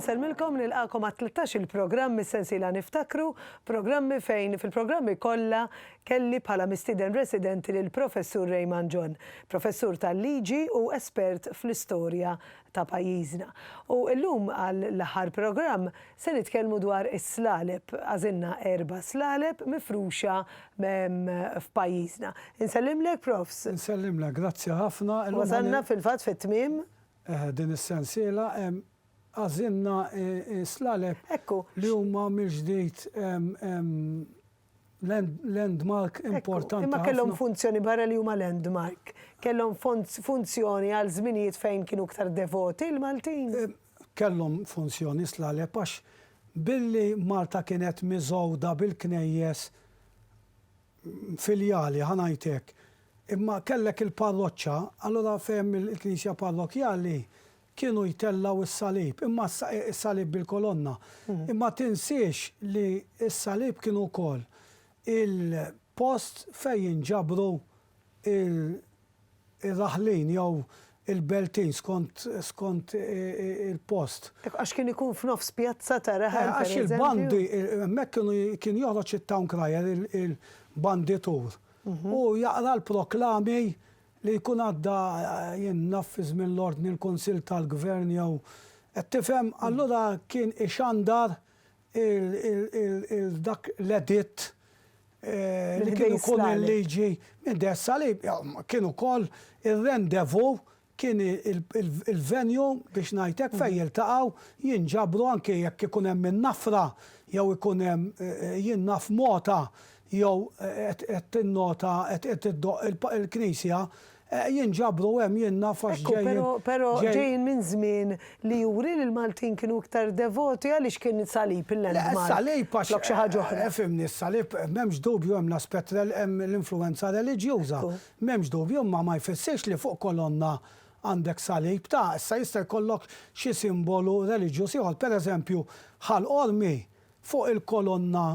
Insellmilkom u nilqagħkom għat-tlettax-il programm mis-sensiela Niftakru, programmi fejn fil-programmi kollha kelli bħala mistieden residenti lill-Professur Raymond John, professur tal-liġi u espert fl-istorja ta' pajjiżna. U llum għal l-aħħar programm se nitkellmu dwar is-slaleb. Għażilna erba' slaleb mifruxa f'pajjiżna. Insellimlek Profs. Insellimlek, grazzi ħafna. Wasalna fil-fatt fit-tmiem. Eħe, din is-sensiela. Għażilna s-slaleb li huma mill-ġdid landmark importanti. Imma kellhom funzjoni barra li huma landmark. Kellhom funzjoni għal żminijiet fejn kienu ktar devoti l-Maltin. Eh, kellhom funzjoni slaleb għax billi Malta kienet miżgħuda bil-knejjes filjali ħanajtek. Imma kellek il-parroċċa, allura fehem il-Knisja Parrokjali Kienu jtellgħu s-salib, imma issa hi s-salib bil-kolonna. Imma tinsiex li s-salib kien ukoll il-post fejn jinġabru l-raħlin jew il-beltin skont skont il-post. Għax kien ikun f'nofs pjazza ta' raħal pereżempju. Għax il-bandi, hemmhekk kienu kien joħroġ it-town crier, il-banditur, u jaqra l-proklami Li jkun għadda, jien naf, fi żmien l-Ordni l-Kunsill tal-Gvern jew, qed tifhem, allura kien ixandar dak l-editt li kien ikun il-liġi minn Deh Salib. Kien ukoll ir-rendezvous, kien il-venue biex ngħid hekk fejn jiltaqgħu, jinġabru anke jekk ikun hemm in-nafra jew ikun hemm, jien naf, mogħta jew qed tinnota qed qed iddoqq il-knisja, jinġabru hemm jien naf għax ġejjin. Ekku, però però ġejjin minn żmien li juri li l-Maltin kienu iktar devoti għaliex kien is-salib il-landmark. Le, s-salib għax. Flok xi ħaġa oħra. Efhimni, s-salib m'hemmx dubju hemm l-aspett hemm l-influwenza reliġjuża. M'hemmx dubju, imma ma jfissirx li fuq kolonna għandek salib. Ta, issa jista' jkollok xi simbolu reliġjuż ieħor. Pereżempju, Ħal Qormi fuq il-kolonna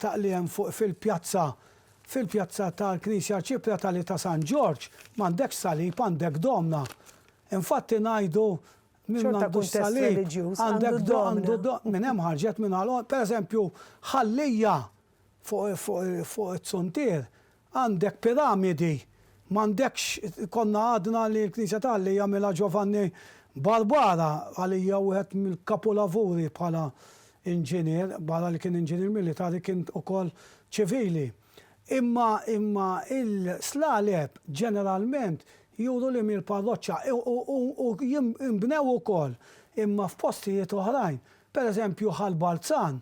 taqliem fuq fil-pjazza fil-pjazza tal-Knisja Arċipretali ta' San Ġorġ, m'għandekx salib, għandek domna. Infatti ngħidu min Xorta m'għandux kuntest salib, reliġjuż, għandu għandek do- għandu domna. do- minn hemm ħarġet minn għal per eżempju ħallija fuq fuq fuq it-suntier Għandek piramidi, m'għandekx konna għadna li l-Knisja ta' Alla jagħmilha Giovanni Barbara, għalija wieħed mill-kapulavuri bħala inġinier, barra li kien inġinier militari kien ukoll ċivili. Imma imma il-slaleb ġeneralment juru li mil parroċċa u jinbnew ukoll imma f'postijiet oħrajn. Pereżempju Ħal Balzan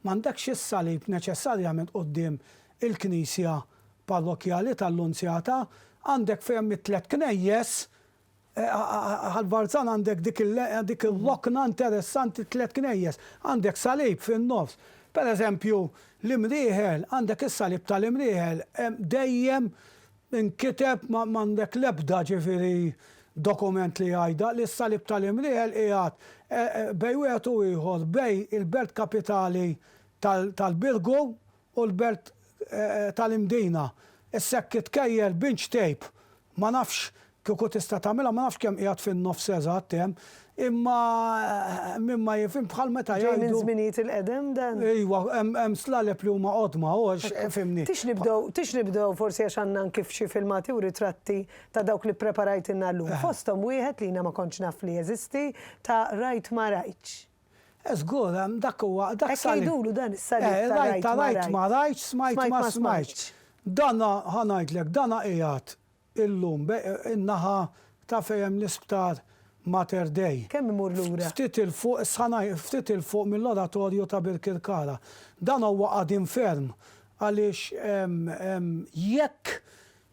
M'għandekx is-salib neċessarjament quddiem il-knisja parrokkjali tal-Lunzjata, għandek fejn hemm it-tliet knejjes, għal Varzan għandek dik ir-rokna interessanti t-tliet knejjes, għandek salib fin-nofs. Pereżempju, l-Imrieħel, għandek is-salib tal-Imrieħel, dejjem Inkiteb, ma għandek l-ebda, ġifieri, dokument li jgħidha, li s-Salib tal-Imriel qiegħed bejn wieħed u ieħor, bejn il-belt kapitali tal-Birgu u l-belt tal-Imdina. Issa hekk itkejjel binċ tejp, ma nafx Kieku tista' tagħmilha, ma nafx kemm qiegħed fin-nofs eżatt hemm, imma min ma jifhimx bħal meta jgħidu. Ġej minn żminijiet il-qedem dan? Iwa, hemm slaleb li huma qodma, fhimni. Tix nibdew, tix nibdew forsi għax għandna anki f'xi filmati u ritratti ta' dawk li ppreparajtilna llum. Fosthom wieħed li jiena ma kontx naf li jeżisti ta' Rajt ma rajtx. Eh żgur, dak huwa, dak is-salib. Hekk jgħidulu dan is-salib ta' Rajt ma rajtx. Smajt ma smajtx. Dana, ħa ngħidlek, dana qiegħed Illum, in-naħa ta' fejn hemm l-Isptar Mater Dei. Kemm imur lura? Ftit 'il fuq, issa ngħid, ftit 'il fuq mill-Oratorju ta' Birkirkara. Dan huwa qadim ferm għaliex jekk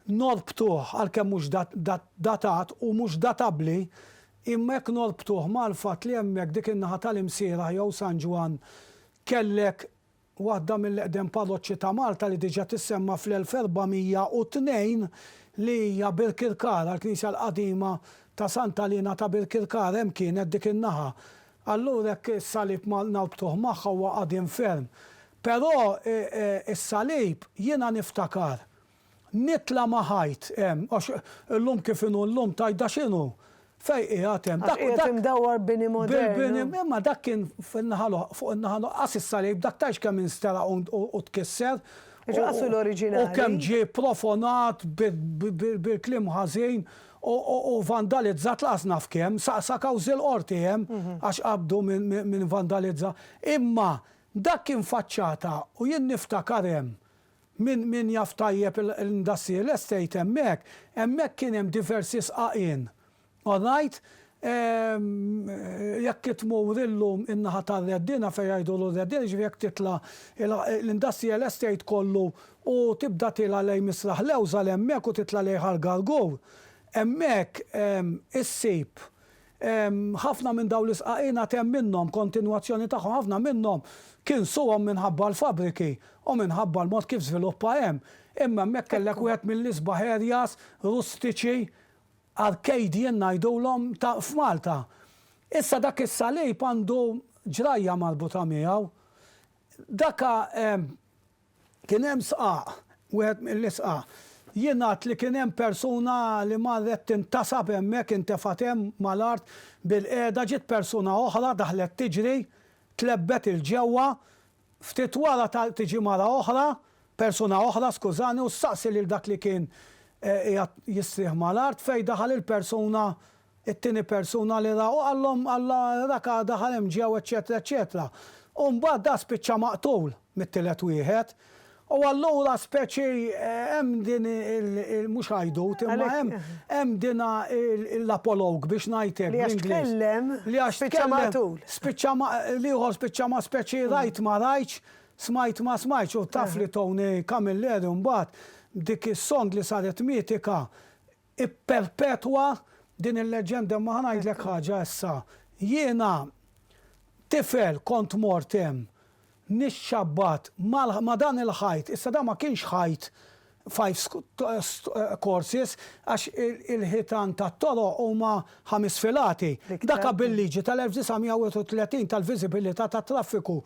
norbtuh, għalkemm mhux datat u mhux databbli, imma jekk norbtuh mal-fatt li hemmhekk dik in-naħa tal-Imsierah jew San Ġwann kellek waħda mill-eqdem parroċċi ta' Malta li diġà tissemma fl-1402 li hija Birkirkar għall-knisja l-qadima ta' Santa Lina ta' Birkirkar hemm kienet dik in-naħa. Allura hekk is-salib ma norbtuh magħha huwa qadim ferm. Però is-salib jiena niftakar. Nitla' ma' ħajt hemm, għax illum kif inhu llum tgħid da x'inhu? Fejn qiegħed hemm? Għax qiegħed imdawwar bini modernu. Imma dak kien fin-naħa l-oħra, fuq in-naħa l-oħra. Qas issa lejb dak tgħidx kemm instelaq u tkisser. Iġu qas hu l-oriġinali. U kemm ġie profonat bil-kliem ħażin u vandalizzat lanqas naf kemm, sa kawżi l-Qorti hemm għax qabdu min vandalizza. Imma dak kien faċċata u jien niftakar hemm. Min min jaf tajjeb l-industrial estate hemmhekk, hemmhekk kien hemm diversi sqaqien. All right? Jekk tmur illum in-naħa tar-Reddina fejn jgħidulu r-Reddina, jiġifieri jekk titla' l-industrial estate kollu u tibda tiela' lejn Misraħ Lewża l hemmhekk u titla' lejn Ħal Gargur, hemmhekk issib Ħafna minn dawn l-isqaqin għad hemm minnhom, kontinwazzjoni tagħhom, ħafna minnhom kinsuhom minħabba l-fabbriki u minħabba l-mod kif żviluppa hemm. Imma hemmhekk kellek wieħed mill-isbaħ areas rustiċi, Arcadian ngħidulhom, ta' f'Malta. Issa dak is-salib għandu ġrajja marbuta miegħu. Dak Kien hemm sqaq, wieħed mill-isqaq. Jingħad li kien hemm persuna li marret tintasab hemmhekk, intefgħet hemm mal-art bilqiegħda, ġiet persuna oħra daħlet tiġri, tlebbet 'il ġewwa, ftit wara tiġi mara oħra, persuna oħra skużani u ssaqsi lil dak li kien qiegħed jistrieħ mal-art fejn daħal il-persuna It-tieni persuna li ra u qallhom Alla rak għada ħa hemm ġew eċċetera eċċetera. U mbagħad da spiċċa maqtul mit-tielet wieħed. U allura speċi hemm din il mhux għajdut imma hemm hemm dina l-apologue biex ngħidlek bl-Ingliż. Li għax tkellem li għax tkellem spiċċa maqtul. Spiċċa ma l-ieħor spiċċa ma speċi rajt ma rajtx, smajt ma smajtx u taf li Tony Camilleri mbagħad b'dik is-song li saret mitika Ipperpetwa din il-leġġenda imma ħa ngħidlek ħaġa issa. Jiena tifel kont mort hemm nixxabbat ma' dan il-ħajt, issa dan ma kienx ħajt five courses għax il-ħitan tat-toroq huma ħames filati. Dak bil-liġi tal-1931 tal-viżibilità tat-traffiku.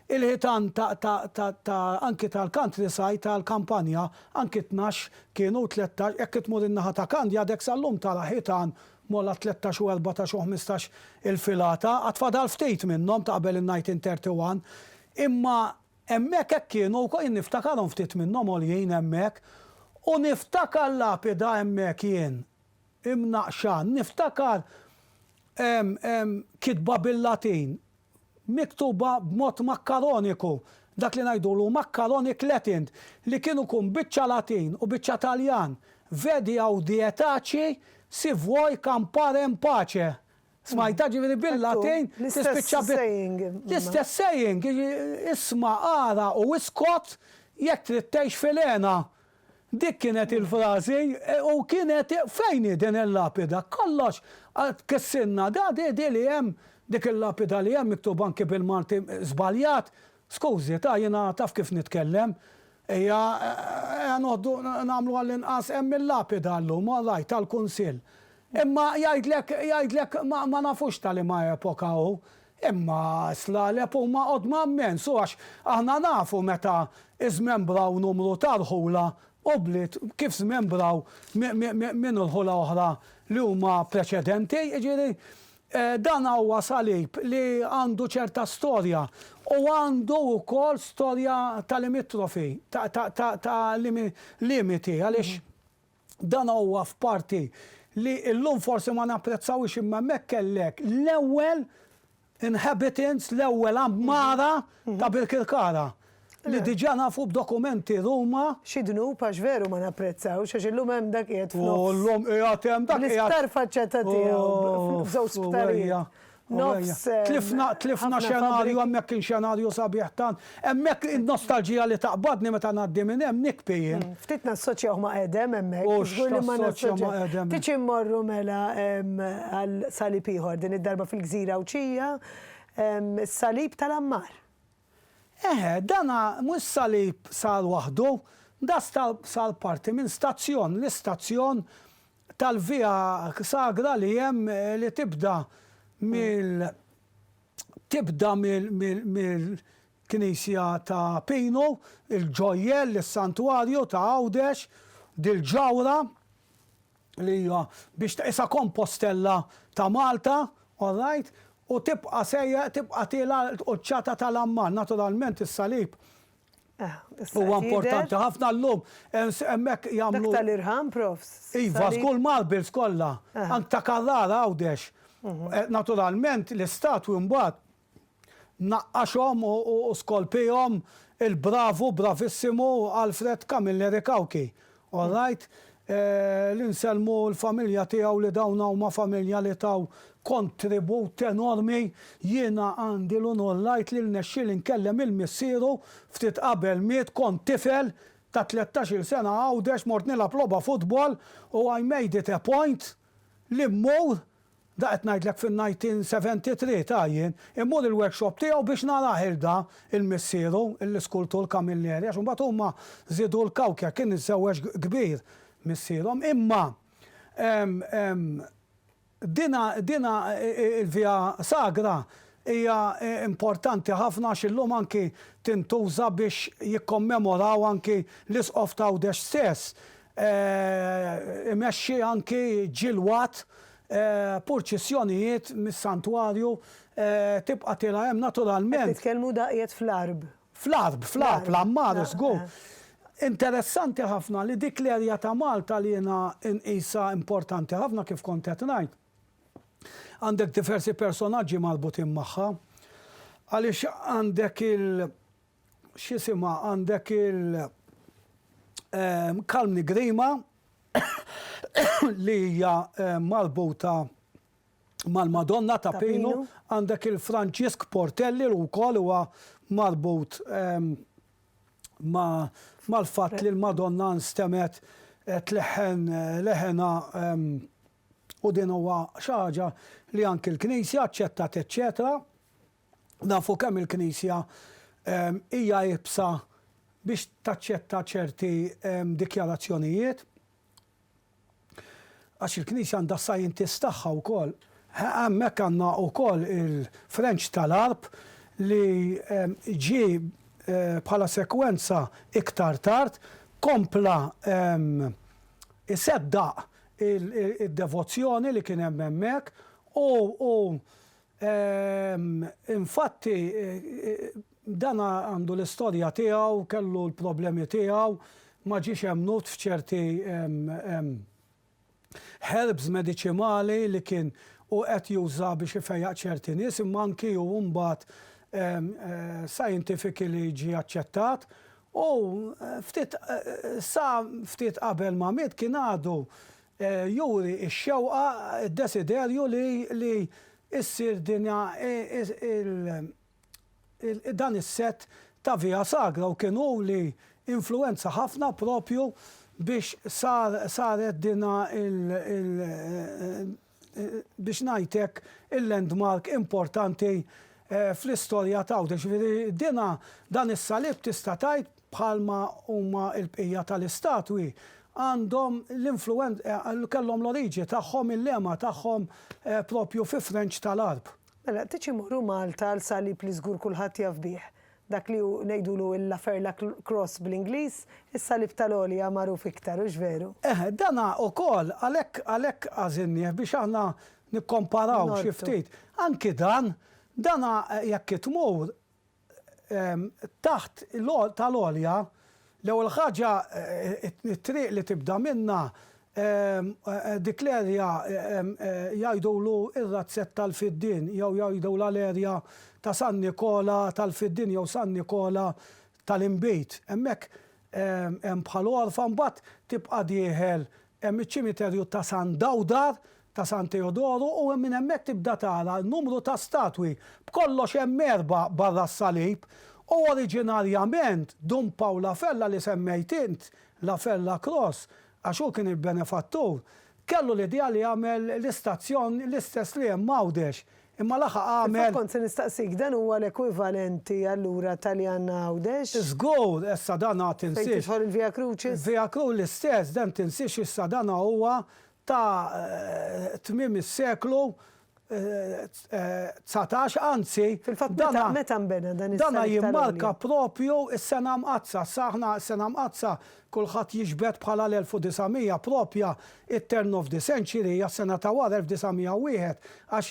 Il-ħitan ta' anki tal-countryside tal-kampanja anki tnax Kienu u tlettax, jekk tmur in-naħa ta' Kandja dek sal-lum tara ħitan mogħlaq tlettax u erbatax u ħmistax il-filata, għad fadal ftit minnhom ta' qabel in-nineteen thirty one, imma hemmhekk hekk kienu wkoll, jien niftakarhom ftit minnhom għoljin hemmhekk, u niftakar l-lapida hemmhekk jien, imnaqqxa, niftakar kitba bil-Latin, miktuba b'mod makkaroniku, dak li ngħidulu macaronic Latin, li kien ukun biċċa Latin u biċċa Taljan, Vedi audietaci si vuoi campare in pace. Smajtha? Ġifieri bil-Latin tispiċċa bi. L-istess saying, isma' ara u iskot jekk trid tgħix fil-hena. Dik kienet il-frażi u kienet fejn hi din il-lapida? Kollox kissinna da di di li hemm dik il-lapida li hemm miktuba anki bil-Malti żbaljat. Skużi ta jiena taf kif nitkellem. Hija eja noħdu nagħmlu għall-inqas hemm il-lapida llum all right tal-Kunsill. Imma jgħidlek jgħidlek ma nafux ta' liema epoka hu. Imma s-slaleb huma qodma mmens u għax aħna nafu meta żmembraw numru ta' rħula u bliet kif żmembraw minn irħula oħra li huma preċedenti, jiġifieri dan huwa salib li għandu ċerta storja u għandu wkoll storja ta' limitrofi, ta' limiti għaliex Dan huwa f'parti li llum forsi ma napprezzawhiex imma hemmhekk kellek l-ewwel inhabitants, l-ewwel għammara ta' Birkirkara li diġà nafu b'dokumenti Ruma. Xi dnub għax veru ma napprezzawx għax illum hemm dak qiegħed f'nofs. U llum qiegħed hemm dak qiegħed. Bl-isptar faċċata tiegħu, f'żewġ sptarijiet. Tlifna xenarju hemmhekk kien xenarju sabiħ tant. Hemmhekk in-nostalġija li taqbadni meta ngħaddi minn hemm nikbi jien. Ftit nassoċjaw ma' Edem hemmhekk. U x'ħa nassoċja ma' Edem. Tiġi mmorru mela għal salib ieħor din id-darba fil-gżira Għawdxija, is-salib tal-Għammar. Eħe, dan mhux salib sar waħdu, dan sar parti minn stazzjon, l-istazzjon tal-via sagra li hemm li tibda mill tibda mill mill mill knisja ta' Pinu, il-ġojjell, is-santwarju ta' Għawdex, dil-ġawhra li hija biex tqisha Kompostella ta' Malta, alright, u tibqa' sejjer tibqa' tiela' l-quċċata tal-Amman, naturalment is-salib Huwa importanti ħafna llum hemmhekk jagħmlu. Dak tal-irħam profs. Iva, żgur marbles kollha, anke ta' Carrara Għawdex. Naturalment l-istatwi mbagħad naqqaxhom u skolpihom il-bravu bravissimu Alfred Camilleri Cauchi. All right, li nsellmu l-familja tiegħu li dawn huma familja li taw kontribut enormi. Jiena għandi l-unur ngħid li rnexxieli nkellem lil missieru ftit qabel miet, kont tifel ta' tlettax-il sena Għawdex mort nilgħab logħba futbol u I made it a point li mmur Da qed ngħidlek fin-1973 ta jien immur il-workshop tiegħu biex narah irda il-missieru, l-iskultur Camilleri, għax imbagħad huma żiedu l-kawkja, kien iżżewweġ kbir missierhom, imma dina dina il-Via Sagra hija importanti ħafna għax illum anki tintuża biex jikkommemoraw anki l-Isqof t'Għawdex stess imexxi anki ġilwat, purċissjonijiet mis-santwarju, tibqa' tilgħa hemm naturalment. Qed titkellmu daqjet fl-Għarb? Fl-Għarb, fl-Għarb, l-Għammar żgur. Interessanti ħafna li dik l-erja ta' Malta li jiena nqisha importanti ħafna kif kont qed ngħid, għandek diversi personaġġi marbutin magħha, għaliex għandek il, X'isimha għandek il Calm Nigrima li hija marbuta mal-Madonna ta' Pinu, għandek il Franġisk Portelli li wkoll huwa marbut mal-fatt li l-Madonna nstemet tleħħen leħenha u din huwa xi ħaġa li anki l-Knisja aċċettat eċċetera. Nafu kemm il-Knisja hija iebsa biex taċċetta ċerti dikjarazzjonijiet, għax il-Knisja għandha s-scientists tagħha wkoll. Hemmhekk għandna wkoll il-Frenċ tal-Għarb li ġie bħala sekwenza iktar tard kompla jseddaq id-devozzjoni li kien hemm hemmhekk u Ehm, infatti, dan għandu l-istorja tiegħu, kellu l-problemi tiegħu, ma ġiex emmnut f'ċerti herbs mediċimali li kien u qed juża biex ifejjaq ċerti nies, imma anki hu mbagħad scientifically ġie aċċettat. U ftit sa ftit qabel ma miet kien għadu juri x-xewqa, id-desiderju li ssir din dan is-sett ta' Via Sagra u kien hu li influwenza ħafna propju biex saret din biex ngħid hekk il-landmark importanti fl-istorja t'Għawdex. Jiġifieri din dan is-salib tista' tgħid, bħalma huma l-bqija tal-istatwi, għandhom l-influwen, kellhom l-oriġi tagħhom, il-lema tagħhom propju fi Frenċ tal-Għarb. Mela, titx immorru Malta għal salib li żgur kulħadd jaf bih, dak li hu ngħidulu il-La Ferla Cross bl-Ingliż, is-salib tal-għolja magħruf iktar, hux veru? Eħe, dan ukoll, għalhekk, għalhekk għażilnieh biex aħna nikkomparaw xi ftit. Norbtu. Anki dan, dan jekk tmur, taħt tal-għolja, l-ewwel ħaġa t-triq li tibda minnha dik l-erja jgħidulu r-razzett tal-Fiddien jew jgħidulha l-erja ta' San Nikola tal-Fiddien jew San Nikola tal-Inbid. Hemmhekk hemm bħal għorfa mbagħad tibqa' dieħel Hemm iċ-ċimiterju ta' San Dawdar, ta' San Teodoru u minn hemmhekk tibda tara numru ta' statwi. B'kollox hemm erbgħa barra s-salib. U oriġinarjament, Dun Pawl La Ferla li semmejt int, La Ferla Cross, għax hu kien il-benefattur, kellu l-idea li jagħmel l-istazzjon l-istess li hemm Għawdex, Imma laħaq għamel. Fil-fatt kont se nistaqsik, dan huwa l-ekwivalenti allura Taljanna Għawdex? Żgur, issa dan għad tinsiex. Fejn tidħol il-Via Crucis? Via Cru l-istess, dan tinsiex issa dan huwa ta' tmiem is-seklu dsatax, anzi. Fil-fatt meta meta nbena dan is-Salib tal-Għolja? Dan jimmarka proprju s-Sena Mqaddsa. Issa aħna s-Sena Mqaddsa Kulħadd jiġbed bħala l-1900 proprja it-turn of the century, hija s-sena ta' wara 1901, għax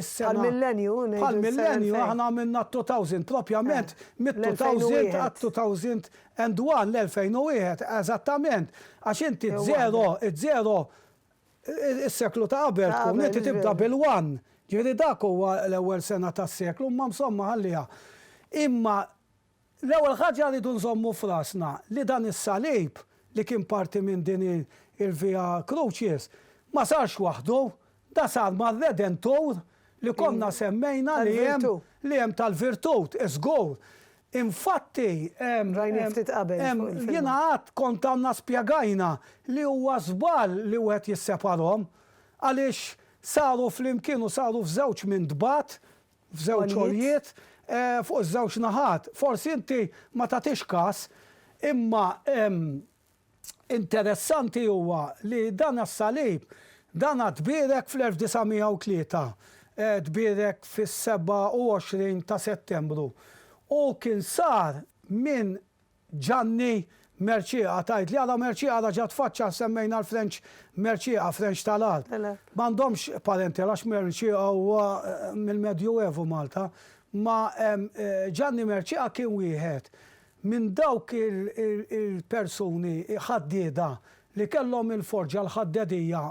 is-sena. Bħall-millenju, ngħidu. Bħall-millenju, aħna għamilna t-two thousand, proprjament mit-two thousand għat-two thousand and one, l-2001, eżattament. Għax inti z-zero, z-zero, is-seklu ta' qabel tkun inti tibda bil-one. Ġifieri dak huwa l-ewwel sena tas-seklu, imma msomma ħalliha. Imma L-ewwel ħaġa rridu nżommu f'rasna li dan is-salib li kien parti minn din il-Via Crucis ma sarx waħdu, da sar mar-Redentur li konna semmejna li hemm li hemm tal-virtut, żgur. Infatti hemm hemm jiena għad kont għandna spjegajna li huwa żball li wieħed jisseparhom għaliex saru flimkien u saru f'żewġ mintbat f'żewġ għoljiet fuq iż-żewġ naħat. Forsi inti ma tagħtix kas, imma interessanti huwa li dan is-salib, dan tbierek fl-1903, tbierek fis-27 ta' Settembru u kien sar minn Ġanni, Merċieqa, tgħidli għala Merċieqa la ġa tfaċċa semmejna l-Frenċ Merċieqa, Frenċ tal-Għarb. M'għandhomx parenti għalax Merċieqa huwa mill-Medjuevu Malta. Ma Ġanni Merċieqa kien wieħed minn dawk il-persuni ħaddieda li kellhom il-forġa l-ħaddedija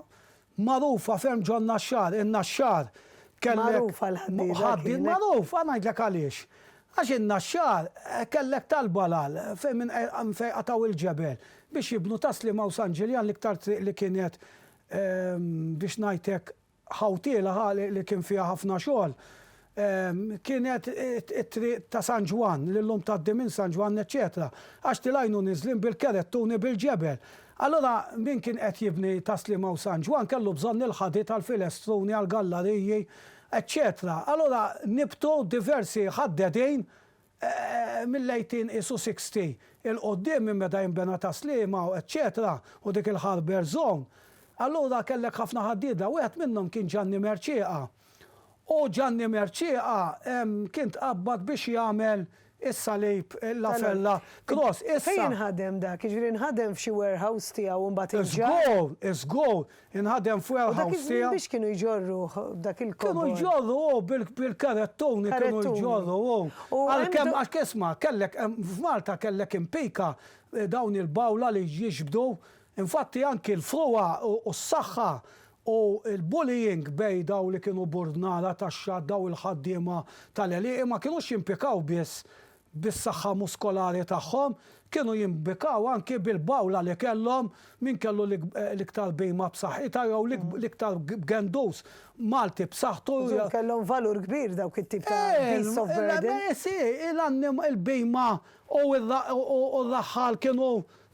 Magħrufa ferm ġon-Naxxar, in-Naxxar kellek. Magħrufa l-ħaddieda kienet. Ħaddiem magħruf, ħa ngħidlek għaliex. Għax in-Naxxar kellek talba l-għal fejn minn fejn qatgħu il-ġebel biex jibnu Tas-Sliema u San Ġiljan l-iktar triq li kienet biex ngħidlek ħawtiela ħa li kien fiha ħafna xogħol. kienet it-triq ta' San Ġwann, li llum tgħaddi minn San Ġwann eċċetera, għax tilgħinu niżlin bil-keret tuni bil-ġebel. Allura min kien qed jibni ta' Sliema u San Ġwann kellu bżonn il-ħadid għall-filestruni, għall-gallariji, eċċetera. Allura nibtu diversi ħaddedin mill-18 qisu 60 'il quddiem minn meta jinbena Tas-Sliema u eċċetera u dik il-harbour zone, allura kellek ħafna ħaddieda, wieħed minnhom kien Ġanni Mercieqa. U Ġanni Mercieqa kien tqabbad biex jagħmel is-Salib, La Ferla Cross. Issa. Fejn inħadem dak? Jiġifieri nħadem f'xi warehouse tiegħu u mbagħad inġarr? Żgur, żgur. Inħadem f'warehouse tiegħu. U dak iż-żmien biex kienu jġorruh dak il-kobor? Kienu jġorru hu bil-karettuni kienu jġorru hu. Għalkemm għax isma' kellek f'Malta kellek impika dawn il-bawla li jiġbdu. Infatti anki l-frugħa u s-saħħa u l-bullying bejn dawn li kienu burdnara tax-xatt dawn il-ħaddiema tal-għelieqi ma kinux jimpikaw biss bis-saħħa muskolari tagħhom, kienu jimbikaw anki bil-bawla li kellhom, min kellu l-iktar bhima b'saħħitha jew l-iktar gendus Malti b'saħħtu. Jiġifieri kellhom valur kbir dawk it-tip ta' beasts of burden. Il-bhima u r-raħħal kienu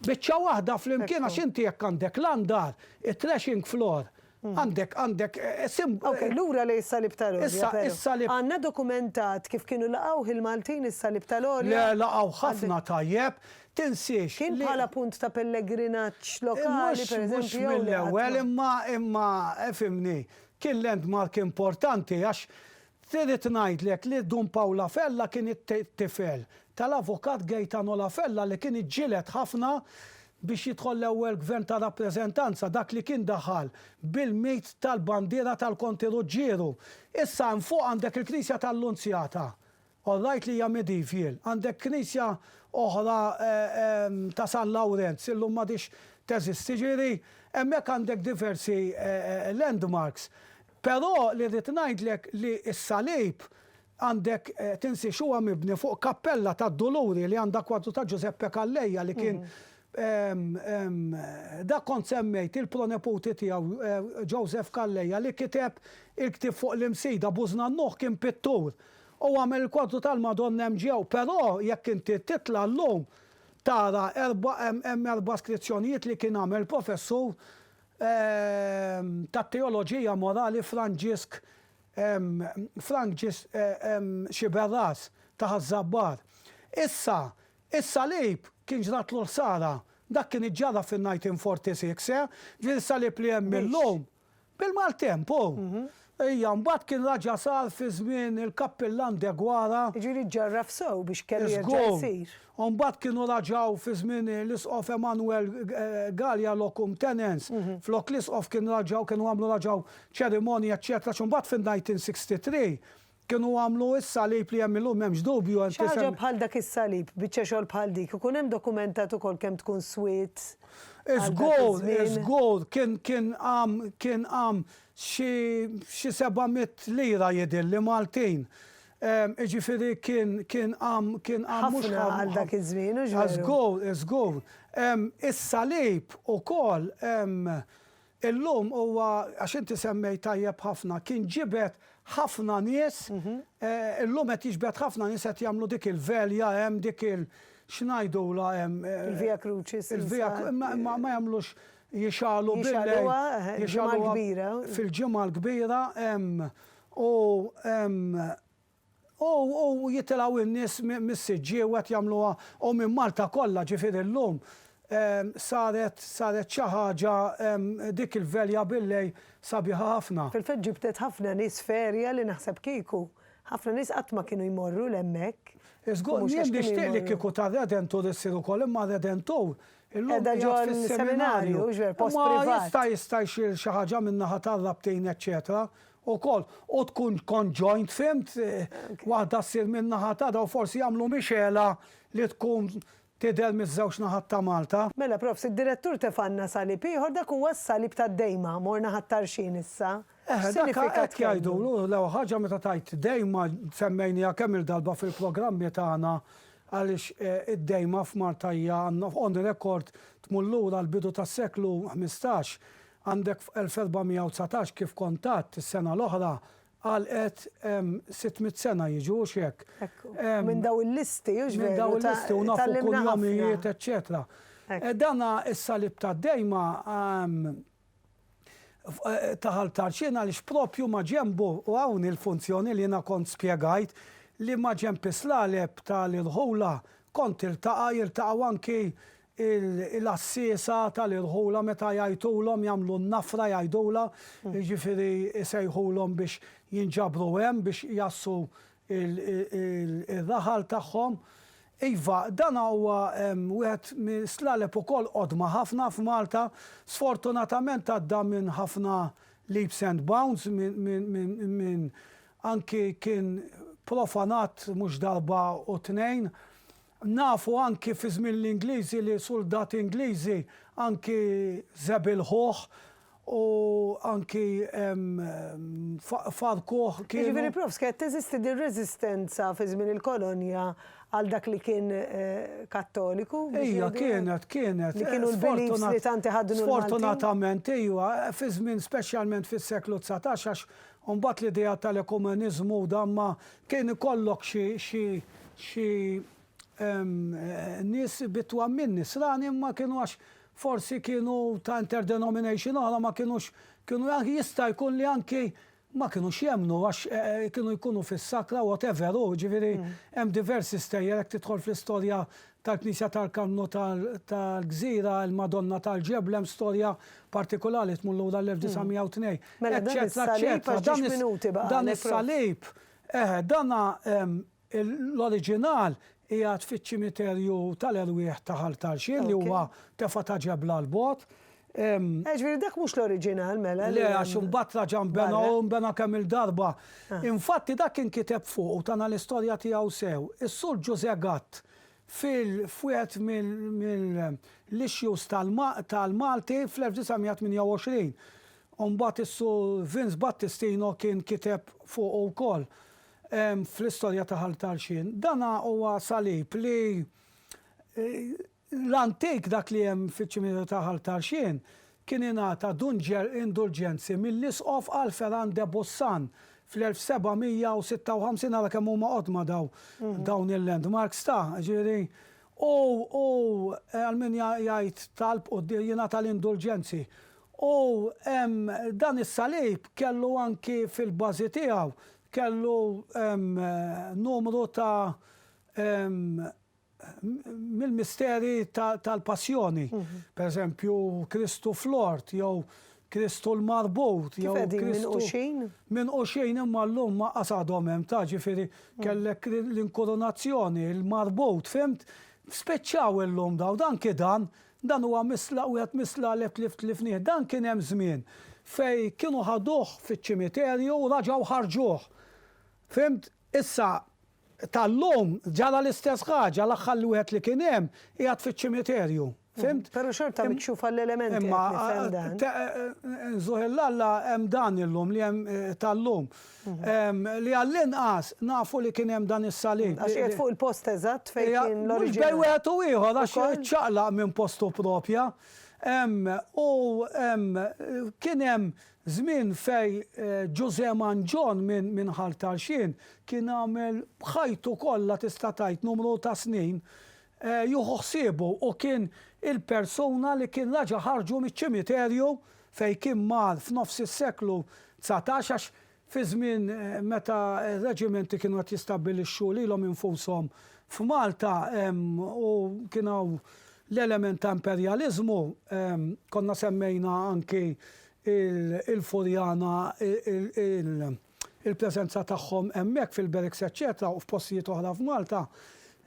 biċċa waħda flimkien għax inti jekk għandek l-għandar, it-threshing floor, Għandek, għandek, sim. Ok, lura lejn is-Salib tal-Għolja. Issa, is-Salib. Għandna dokumentat kif kienu laqgħuh il-Maltin is-Salib tal-Għolja? Le, laqgħuh ħafna tajjeb. Tinsiex. Kien bħala punt ta' pellegrinaġġ lokali, per eżempju. Mhux mill-ewwel, imma, imma, fhimni, kien landmark importanti għax irrid ngħidlek li Dun Pawl La Fella kien it-tifel tal-Avukat Gaetano La Fella li kien iġġieled ħafna biex jidħol l-ewwel Gvern ta' rappreżentanza, dak li kien daħal bil-mit tal-bandiera tal-Konti Ruġġieru. Issa hemm fuq għandek il-Knisja tal-Lunzjata, all right li hija medievial, għandek knisja oħra ta' San Lawrenz, illum m'għadhiex teżisti, ġifieri hemmhekk għandek diversi landmarks. Però li rrid ngħidlek li s-salib Għandek tinsiex huwa mibni fuq kappella tad-Duluri li għandha kwadru ta' Ġużeppe Calleja li kien dak kont semmejt il-proneputi tiegħu Joseph Calleja li kiteb il-ktieb fuq l-Imsida, Bużna Nuħ kien pittur u għamel il-kwadru tal-Madonna hemm ġew però jekk inti titla' llum tara hemm erba' skrizzjonijiet li kien għamel professur tat-teoloġija morali Franġisk Frank ġie xiber ras ta' Ħaż-Żabbar. Issa, is-salib kien ġratlu ħsara. Dak kien iġġarraf fin-1946, eh? Din is-salib li hemm illum, bil-maltempo, hija mbagħad kien raġa' sar fi żmien il-Kappillan Deguara. Jiġifieri ġġarraf sew biex kellu jerġa' jsir. U mbagħad kienu raġaw fi żmien l-Isqof Emanuel Galea locum tenens, flok l-Isqof kien raġaw kienu għamlu raġaw ċerimonji eċċetera xi mbagħad fin-1963 kienu għamlu s-salib li hemm illum m'hemmx dubju hemm Xi ħaġa bħal dak is-salib, biċċa xogħol bħal dik, ikun hemm dokumentat ukoll kemm tkun swiet għal dak iż-żmien? Żgur, żgur, kien kien għam kien għam xi xi seba' mitt lira jidhirli Maltin. Jiġifieri kien kien hamm kien hamm mhux Ħafna hamm għal dak iż-żmien, hux veru? Żgur, żgur. Is-salib ukoll illum huwa, għax inti semmejt tajjeb ħafna, kien ġibed ħafna nies, illum qed jiġbed ħafna nies qed jagħmlu dik il-velja hemm, dik il x'ngħidulha hemm, Il-Via Crucis. il-via imma imma ma jagħmlux jixgħalu bil-lejl, Jixgħaluha, il-ġimgħa l-kbira. fil-ġimgħa l-kbira hemm U jitilgħu in-nies mis-siġġiew qed jagħmluha u minn Malta kollha ġifieri llum saret saret xi ħaġa dik il-velja billej sabiħa ħafna. Fil-fatt ġibdet ħafna nies ferja li naħseb kieku ħafna nies qatt ma kienu jmorru 'l hemmhekk. Żgur jien nixtieq li kieku tar-Redentur issir ukoll imma r-Redentur illum qiegħed fis-seminarju. Imma jista' jista' jsir xi ħaġa min-naħa tar-rabtin eċċetera ukoll u tkun conjoint fhimt waħda ssir min-naħa ta' daw forsi jagħmlu mixgħela li tkun tidher miż-żewġ naħat ta' Malta. Mela profs, id-direttur tefanna salib ieħor dak huwa s-salib tad-Dejma, morna ħat-Tarxien issa. Eħe, dak hekk jgħidulu, l-ewwel ħaġa meta tgħid Dejma semmejniha kemm-il darba fil-programmi tagħna għaliex id-Dejma f'Malta hija on record tmur lura għall-bidu tas-seklu ħmistax Għandek f'elsebgħamijawdsatax kif kont għadt is-sena l-oħra għalqet sitt mitt sena jiġu hux hekk? Ekku. Minn dawn il-listi hux veru. Minn dawn il-listi u nafu kunjomijiet eċċetera. Dan is-salib tad-dejma ta' Ħal Tarxien għaliex propju maġenbu u hawn il-funzjoni li jiena kont spjegajt li maġenb is-slaleb tal-irħula kont tiltaqa' jiltaqgħu anki il-għassiesa tal-irħula meta jgħajtulhom jagħmlu n-nafra jgħidulha, jiġifieri jsejħulhom biex jinġabru hemm biex jgħassu r-raħal tagħhom. Iva, dan huwa wieħed mis-slaleb ukoll qodma ħafna f'Malta. Sfortunatament għadda minn ħafna leaps and bounds minn anki kien profanat mhux darba u tnejn. Nafu anki fi żmien l-Ingliżi li suldati Ingliżi anki żebilħuh u anki farrkuh, kienu. Jiġifieri Prof. Kienet teżisti din reżistenza fi żmien il-kolonja għal dak li kien Kattoliku? Ija, kienet, kienet. Li kienu l-beliefs li tant iħaddnu l-Maltin? Sfortunatament ija, fi żmien speċjalment fis-seklu dsatax għax U mbagħad l-idea tal-ekumeniżmu u dan ma kien ikollok xi xi xi nies bi twemmin nisrani imma kienu għax forsi kienu ta' interdenomination oħra ma kienux kienu anki jista' jkun li anki ma kienux jemmnu għax kienu jkunu fis-sakra whatever hu ġifieri hemm diversi stejjer jekk tidħol fl-istorja tal-Knisja tal-Kannu tal-Gżira, il-Madonna tal-Ġebla, hemm storja partikulari li tmur lura l-1902, eċċetera, eċċetera. Dan is-salib, dan is-salib, eħe, dan l-oriġinal qiegħed fiċ-ċimiterju tal-erwieħ ta' Ħal Tarxien li huwa tefgħa ta' ġebla 'l bogħod. Jiġifieri dak mhux l-oriġinal mela. Le, għax imbagħad raġa' nbena u nbena kemm-il darba. Infatti dak inkiteb fuq u tana l-istorja tiegħu sew is-Sur Ġużè Gatt f'wieħed mill-issues tal-Malti fl-1928. U mbagħad is-Sur Vince Battistino kien kiteb fuqu wkoll fl-istorja ta' Ħal Tarxien. Dana huwa salib li L-antik, dak li hemm fiċ-ċiminiera ta' Ħal Tarxien, kien ingħata dunġer indulġenzi mill-Isqof Alpheran de Boussan fl-1756, ara kemm huma qodma dawn il-landmarks ta', jiġifieri, u għal min jgħid talb u jingħata l-indulġenzi. U dan is-salib kellu anki fil-bażi tiegħu kellu numru ta' mill-misteri tal-Passjoni, pereżempju Kristu fl-ort jew Kristu l-marbut jew Kristu minquxin imma llum ma qas għadhom hemm ta' ġifieri kellek l-inkurunazzjoni, il-marbut, fimt? Spiċċaw illum dawn, dan kien dan, dan huwa mislaq wieħed mislaq li tlift tlifnih, dan kien hemm żmien fejn kienu ħaduh fiċ-ċimiterju u raġgħu ħarġuh. Fimt? Issa tal-lum ġara l-istess ħaġa, l-aħħar li wieħed li kien hemm qiegħed fiċ-ċimiterju. Fhimt? Però xorta mikxuf għall-elementi qed nifhem dan. Imma nżuħillalla hemm dan illum li hemm tal-lum. Li għall-inqas nafu li kien hemm dan is-salib. Għax qiegħed fuq il-post eżatt fejn kien l-oriġinali. Mhux bejn wieħed u ieħor għax iċċaqlaq minn postu proprja. U kien hemm Żmien fejn Ġużè Mangion minn Ħal Tarxien kien għamel b'ħajtu kollha tista' tgħid numru ta' snin jieħu ħsiebu u kien il-persuna li kien raġa' ħarġu miċ-ċimiterju fejn kien mar f'nofs is-seklu dsatax għax fiż-żmien meta r-reġimenti kienu qed jistabbilixxu lilhom infushom f'Malta u kien hawn l-element ta' imperjaliżmu, konna semmejna anki il-Furjana, il-preżenza tagħhom hemmhekk fil-Berks eċċetera u f'postijiet oħra f'Malta,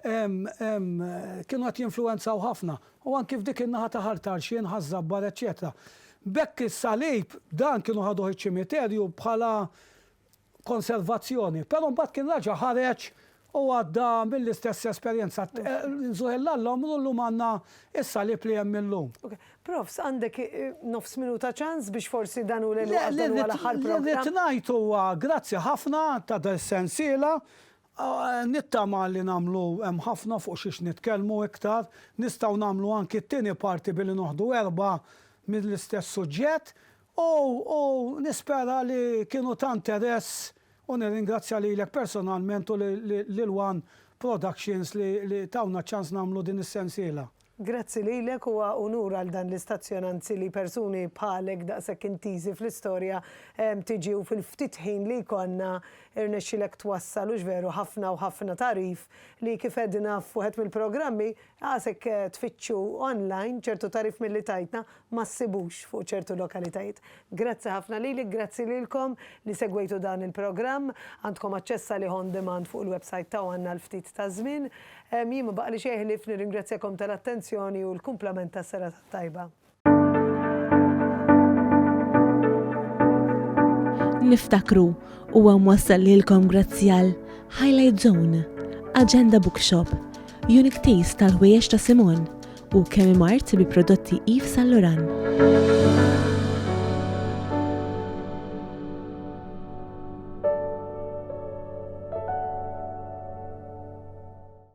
kienu qed jinfluwenzaw ħafna, u anki f'dik in-naħa ta' Ħal Tarxien, Ħaż-Żabbar eċċetera. B'hekk is-salib, dan kienu ħaduh iċ-ċimiterju bħala konservazzjoni, però mbagħad kien raġa' ħareġ u għadda mill-istess esperjenza. Nżur l-allom u llum għandna s-salib li hemm illum. Profs, għandek nofs minuta ċans biex forsi dan hu l-inqas dan huwa l-aħħar programm. Li rrid ngħid huwa grazzi ħafna ta' din is-sensiela, nittama li nagħmlu hemm ħafna fuq xiex nitkellmu iktar, nistgħu nagħmlu anki t-tieni parti billi noħdu erbgħa mill-istess suġġett U u nispera li kienu ta' interess u nirringrazzja lilek personalment u lil one Productions li li tawna ċ-ċans nagħmlu din is-sensiela. Grazzi lilek, huwa unur għal dan l-istazzjon anzi li persuni bħalek daqshekk intiżi fl-istorja tiġi u fil-ftit ħin li jkollna irnexxielek twassal hux veru ħafna u ħafna tagħrif li kif għedna f'wieħed mill-programmi Għasek tfittxu online ċertu tagħrif milli tajtna ma ssibux fuq ċertu lokalitajiet. Grazzi ħafna lilek, grazzi lilkom li segwejtu dan il-programm. Għandkom aċċess għalih on demand fuq il-websajt ta' one għal ftit ta' żmien. Jien ma baqgħalix xejn ħlief nirringrazzjakom tal-attenzjoni u l-kumplament ta' serata tajba. Niftakru huwa mwassal lilkom grazzi għal Highlight Zone, Agenda Bookshop, Unique Taste tal-ħwejjeġ ta' Simon u Kemi Mart bi prodotti Yves Saint Laurent.